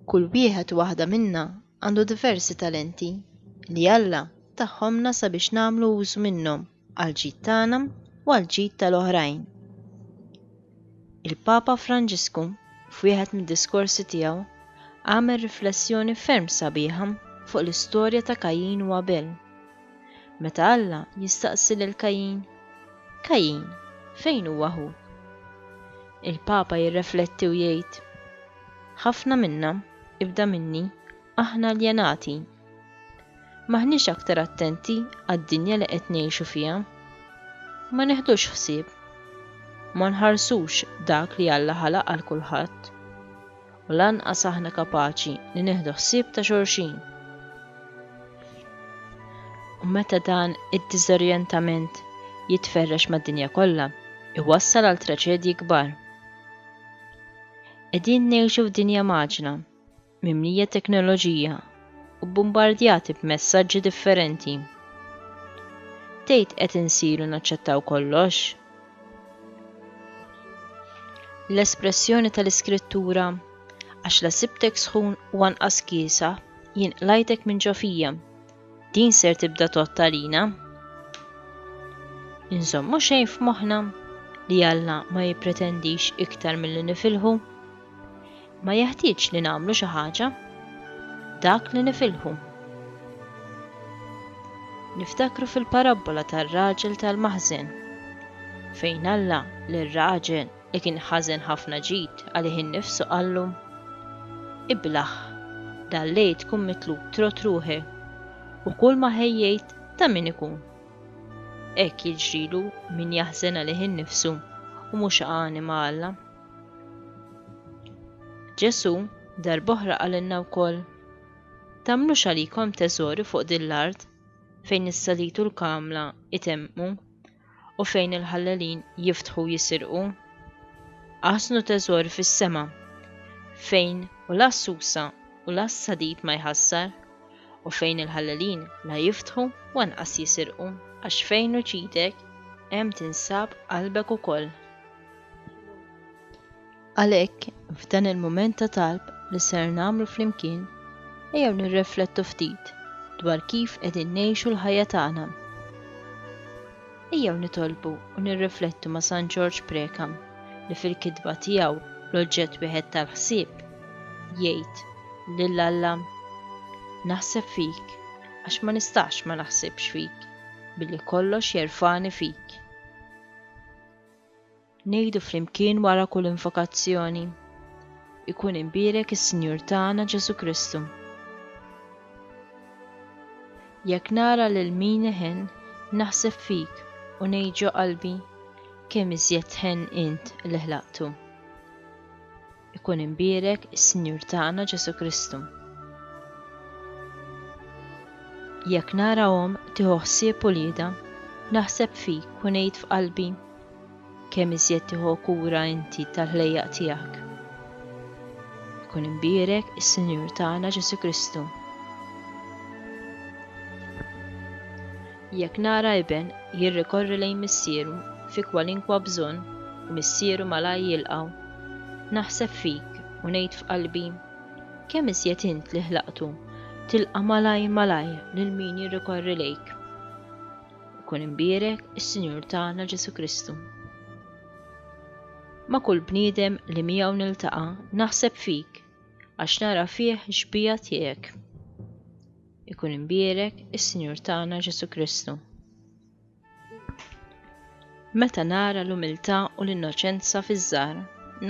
Kull wieħed u waħda minna għandu diversi talenti li Alla tahomlna sabiex nagħmlu użu minnhom għall-ġid tagħna u għall-ġid tal-oħrajn. Il-Papa Franġisku f'wieħed mid-diskorsi tiegħu għamel riflessjoni ferm sabiħa fuq l-istorja ta' Kajjin u Abel. Meta Alla jistaqsi lil Kajin, Kajin, fejn hu aħuk? Il-Papa jirrefletti u jgħid, Ħafna minna, ibda minni, aħna aljenati. M'aħniex aktar attenti għad-dinja li qed ngħixu fiha. Ma neħdux ħsieb. Ma nħarsux dak li Alla ħalaq għal kulħadd. u lanqas aħna kapaċi li nieħdu ħsieb ta' xulxin. U meta dan id-diżorjentament jitferrex mad-dinja kollha, iwassal għal traċedji kbar. Qegħdin ngħixu f'dinja maġna, mimlija teknoloġija u bbombardjati b'messaġġi differenti. Tgħid qed insiru naċċettaw kollox? L-espressjoni tal-Iskrittura, għax la sibtek sħun u anqas kiesa, jien qlajtek minn ġo fija. Din ser tibda tot għalina. Inżommu xejn f'moħħna li Alla ma jippretendix iktar milli nifilħu. Ma jeħtieġx li nagħmlu xi ħaġa, dak li nifilħu. Niftakru fil-parabbola tar-raġel tal-maħżen, fejn Alla lir-raġel li kien ħażen ħafna ġid għalih innifsu qallu, Iblaħ, dal-lejl tkun mitlub trot ruħek u kull ma ħejjejt ta' min ikun. Hekk jiġrilu min jaħżen għalih innifsu u mhux għanima Alla. Ġesù darb'oħra qalilna wkoll, Tagħmlux għalikom teżori fuq din l-art fejn is-salid u l-kamla jtemmqu u fejn il-ħallelin jiftħu u jisirqu. Aħżnu teżori fis-sema fejn u la s-susa u la s-salid ma jħassar u fejn il-ħallelin la jiftħu u anqas jisirqu. Għax fejn hu ġidek, hemm tinsab qalbek ukoll. Għalhekk, f'dan il-mument ta' talb li ser nagħmlu flimkien, ejjew nirreflettu ftit dwar kif qegħdin ngħixu l-ħajja tagħna. Ejjew nitolbu u nirreflettu ma' San Ġorġ Prekam li fil-kitba tiegħu l-oġġett wieħed tal-ħsieb jgħid lil Alla naħseb fik għax ma nistax ma naħsibx fik billi kollox jerfani fik. Ngħidu flimkien wara kull invokazzjoni, Ikun imbierek is-Sinjur tagħna Ġesù Kristu. Jekk nara lil min iħenn, naħseb fik u ngħid ġo qalbi, Kemm iżjed tħenn int li ħlaqtu. Ikun imbierek is-Sinjur tagħna Ġesù Kristu. Jekk nara omm tieħu ħsieb uliedha, naħseb fik u ngħid f'qalbi, kemm iżjed tieħu kura inti tal-ħlejjaq tiegħek. Ikun imbierek is-Sinjur tagħna Ġesù Kristu. Jekk nara iben jirrikorri lejn missieru fi kwalinkwa bżonn u missieru malajr jilqgħu, naħseb fik u ngħid f'qalbi, Kemm iżjed int li ħlaqtu tilqa' malajr malajr lil min jirrikorri lejk. Ikun imbierek is-Sinjur tagħna Ġesù Kristu. Ma' kull bniedem li miegħu niltaqa' naħseb fik għax nara fih xbieha tiegħek. Ikun imbierek is-Sinjur tagħna Ġesù Kristu. Meta nara l-umiltà u l-innoċenza fiż-żgħar,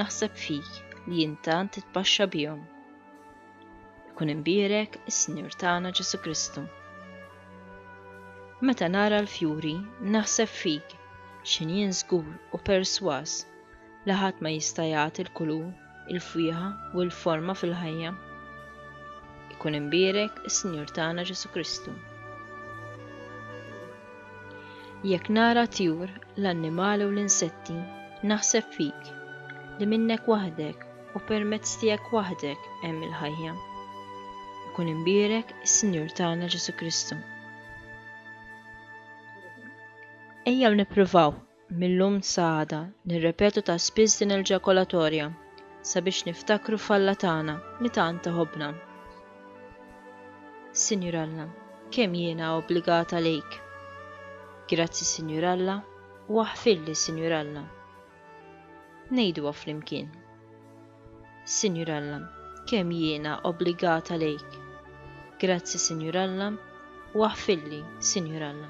naħseb fik li jien tant titpaxxa bihom. Ikun imbierek is-Sinjur tagħna Ġesù Kristu. Meta nara l-fjuri, naħseb fik, x'injien żgur u persważ li ħadd ma jista' jagħti l-kulur il-fwieħa u l-forma fil-ħajja. Ikun imbierek is-Sinjur tagħna Ġesu Kristu. Jekk nara tjur, l-annimali u l-insetti, naħseb fik li minnek waħdek u permezz tiegħek waħdek hemm il-ħajja. Ikun imbierek is-Sinjur tagħna Ġesu Kristu. Ejjew nippruvaw Mil-lum sa għada nirrepetu ta' spiss din il-ġakolatorja sabiex niftakru f'Alla tagħna li tant iħobbna. Sinjur Alla, kemm jiena obbligata lejk! Grazzi Sinjur Alla u aħfirli Sinjur Alla. Ngħiduha flimkien. Sinjur Alla, kemm jiena obbligata lejk! Grazzi Sinjur Alla u aħfirli Sinjur Alla.